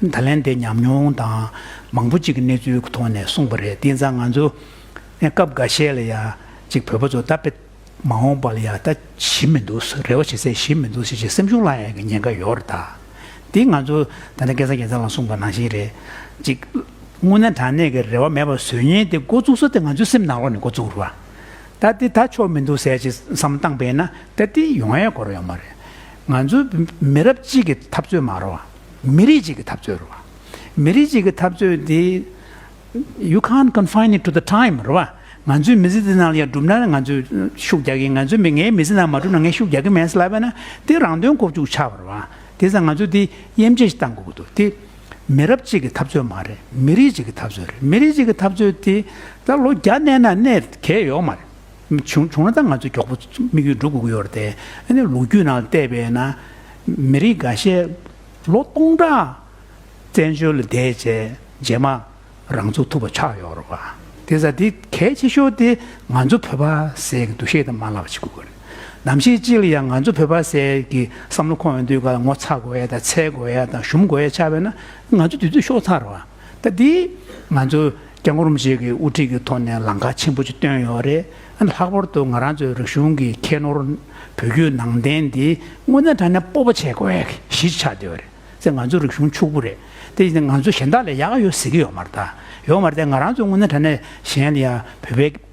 ད་ལན་དེ་ཉམས་མྱོང་དང་མང་པོ་ཅིག་གི་གནས་ཚུལ་གྱི་ཐོག་ནས་གསུངས་པ་རེད་དེ་ཚ་ང་ཚོ་སྐབས་འགའ་ཤས་ལ་ཡང་ཅིག་བོད་པ་ཚོ་ད་དཔེ་མ་འོངས་པ་ལ་ཡང་ད་ཞི་མི་འདུག་རེ་བ་བྱེད་ཚད་ཞི་མི་འདུག་ཞེས་སེམས་ཤུགས་བསླངས་ཡོང་གི་ཉེན་ཁ་ཡོད་རེད་ད་དེ་ང་ཚོ་ད་ལན་སྐལ་བཟང་རྒྱལ་མཚན་ལ་གསུངས་པ་ནང་བཞིན་རེད་ཅིག་དངོས་གནས་དྲང་གནས་ཀྱི་རེ་བ་མེད་པར་བཟོད་ཉེན་དེ་འགོ་བཙུགས་ས་དེ་ང་ཚོའི་སེམས་ནང་ལོགས་ནས་འགོ་བཙུགས་རོགས་ད་དེ་ད་ཆོག་མི་འདུག་ཟེར་ཅིག་བསམ་བཏང་བས་ན་ད་དེ་ཡོང་ཡས་གོ་རོགས་ཡོང་མ་རེད་ང་ཚོ་མི་རབས་གཅིག་གི་འཐབ་རྩོད་མ་རོགས། མི་རིགས་གཅིག་གི་འཐབ་རྩོད་རེད་བ། མི་རིགས་གཅིག་གི་འཐབ་རྩོད་དེ། you can't confine it to the time རེད་བ། ང་ཚོའི་མི་ཚེ་འདི་ནང་ལ་ཡང་སྒྲུབ་ན་ང་ཚོས་ཤུགས་རྒྱག་གིན་ང་ཚོའི་མི་ངའི་མི་ཚེ་ནང་མ་སྒྲུབ་ན་ངས་ཤུགས་རྒྱག་གིན་མེད་སླ་བས་ན་དེ་རང་དོན་ཁོག་བཅུག་ཆགས་པ་རེད་བ། དེ་ས་ང་ཚོས་དེ་དབྱེ་འབྱེད་བཏང་དགོས་ཀྱི་འདུག་དེ། མི་རབས་གཅིག་གི་འཐབ་རྩོད་མ་རེད་མི་རིགས་གཅིག་གི་འཐབ་རྩོད་རེད་མི་རིགས་གཅིག་གི་འཐབ་རྩོད་དེ། ད་ལོ་བརྒྱ་བསྣན་ན་གནས་གལ་ཡོད་མ་རེད། བྱུང་ན་ད་ང་ཚོས་མགྱོགས་པོ་དམིགས་ཡུལ་འགྲུབ་དགོས་ཀྱི་ཡོད་རེད་དེ། ཨ་ནི་ལོ་རྒྱུས་ནང་བལྟས་པས་ན། མི་རིགས་འགའ་ཤས་ལོ་སྟོང་ཕྲག་བཙན་བྱོལ་ལ་བསྡད་རྗེས་རྗེས་མ་རང་ཚུགས་ཐུབ་པ་ཆགས་ཡོད་རེད། དེ་ཚ་དེ་གལ་ཆེ་ཤོས་དེ་ང་ཚོ་བོད་པ་ཟེར་གྱི་འདུ་ཤེས་དེ་མ་ལག་བྱེད་དགོས་རེད། ནམ་ཞིག་ཅིག་ལ་ཡང་ང་ཚོ་བོད་པ་ཟེར་གྱི་བསམ་བློ་ཁོང་ཡོང་དུས་ཀ་ལ་ངོ་ཚ་དགོས་ཡ་དང་འཚལ་དགོས་ཡ་དང་ཞུམ་དགོས་ཡ་ཆགས་པས་ན་ང་ཚོ་དུས་ཚོད་ཤོག་ཚར་བ། ད་དེ་ང་ཚོ་རྒྱ་གོར་མི་ཞིག་གི་དབུ་ཁྲིད་ཀྱི་ཐོག་ནས་ལང་ཀ་ཆེན་པོ་ཅིག་བཏོན་ཡོད་རེད། ལྷག་པར་དུ་ང་རང་ཚོའི་རིག་གཞུང་གི་ཁྱད་ནོར་བོད་བརྒྱུད་ནང་བསྟན་འདི་དངོས་གནས་དྲ་ནས་སྤོབས་པ་བྱེད་དགོས་གཞི་ཆགས་བསྡད་ཡོད་རེད། ང་ཚོའི་རིག་གཞུང་ཕྱུག་པོ་རེད། དེ་བཞིན་ང་ཚོ་གཞན་དག་ལས་ཡག་ཡོད་ཟེར་གྱི་ཡོད་མ་རེད། ཡོད་མ་རེད། ང་རང་ཚོ་དངོས་གནས་དྲ་ནས་གཞན་ལ་ཡང་བོད་པའི།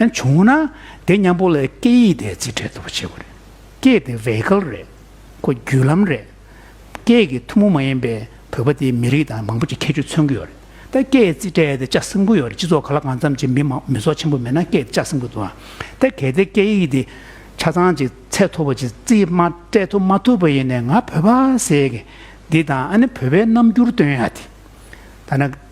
ཡང་བྱུང་ན་དེ་མཉམ་པོ་ལ་སྐད་ཡིག་དེ་རྩིས་སྤྲད་ཐུབ་པ་བྱེད་དགོས་རེད། སྐད་དེ vehicle རེད། ཁོ་བརྒྱུད་ལམ་རེད། སྐད་ཀྱི་ཐུན་མོང་མ་ཡིན་པའི་བོད་པ་དེའི་མི་རིགས་དང་མང་པོ་ཅིག་ཁྱད་ཆོས་མཚོན་གྱི་ཡོད་རེད། ད་སྐད་རྩིས་སྤྲད་དེ་ལྕགས་སྲིན་པོ་ཡོད་རེད་སྤྱི་ཚོགས་ག་ལ་གང་འཚམ་ཅིག་མི་མང་མི་ཚོགས་ཆེན་པོ་མེད་ན་སྐད་དེ་ལྕགས་སྲིན་པོ་འདུག་ཨང། ད་གལ་ཏེ་སྐད་ཡིག་དེ་ཆ་ཚང་ཅིག་ཚད་མཐོ་པོ་ཅིག་རྩིས་མ་སྤྲད་ཐུབ་མ་ཐུབ་པ་ཡིན་ནས་ང་བོད་པ་ཟེར་གི་འདི་དང་ཨ་ནི་བོད་པའི་རྣམ་འགྱུར་སྟོན་ཡ་དེ། ཐ་ན།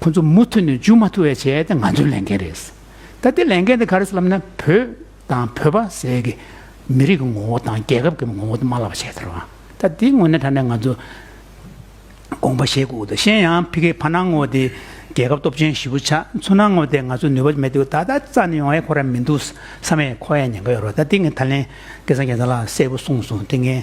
ཁོ་ཚོ་མུ་མཐུད་ནས་འཇུ་མ་ཐུབ་བའི་བྱས་ཏེ་ང་ཚོའི་ལས་འགན་རེད། ད་ལྟའི་ལས་འགན་འདི་ག་རེད་སླབ་ན་བོད་དང་བོད་པ་ཟས་ཀྱི་མི་རིགས་ཀྱི་ངོ་བོ་དང་རྒྱལ་ཁབ་ཀྱི་ངོ་བོ་དེ་མ་ལབ་པ་བྱས་དར་བ། ད་དེའི་ངོ་ནས་དྲ་ནས་ང་ཚོ་དགོངས་པ་བཞེས་དགོས་དོ་ཤེས་ཡང་ཕི་ཁེ་ཕ་ནང་ངོ་དེ་རྒྱལ་ཁབ་སྟོབས་ཆེན་བཞི་བོ་ཆགས་མཚོ་ནང་ངོ་དེ་ང་ཚོ་ནུས་པ་མེད་དུས་ད་ལྟ་རྩ་ནས་ཡོང་ཡས་ཁོ་ར་མི་འདུག་ས་མས་ཁོ་ཡས་ཉན་ག་ཡོད་རོ་ད་དེ་ངས་ད་ལན་སྐལ་བཟང་རྒྱལ་མཚན་ལགས་གསལ་པོ་གསུངས་སོང་དེ་ངས།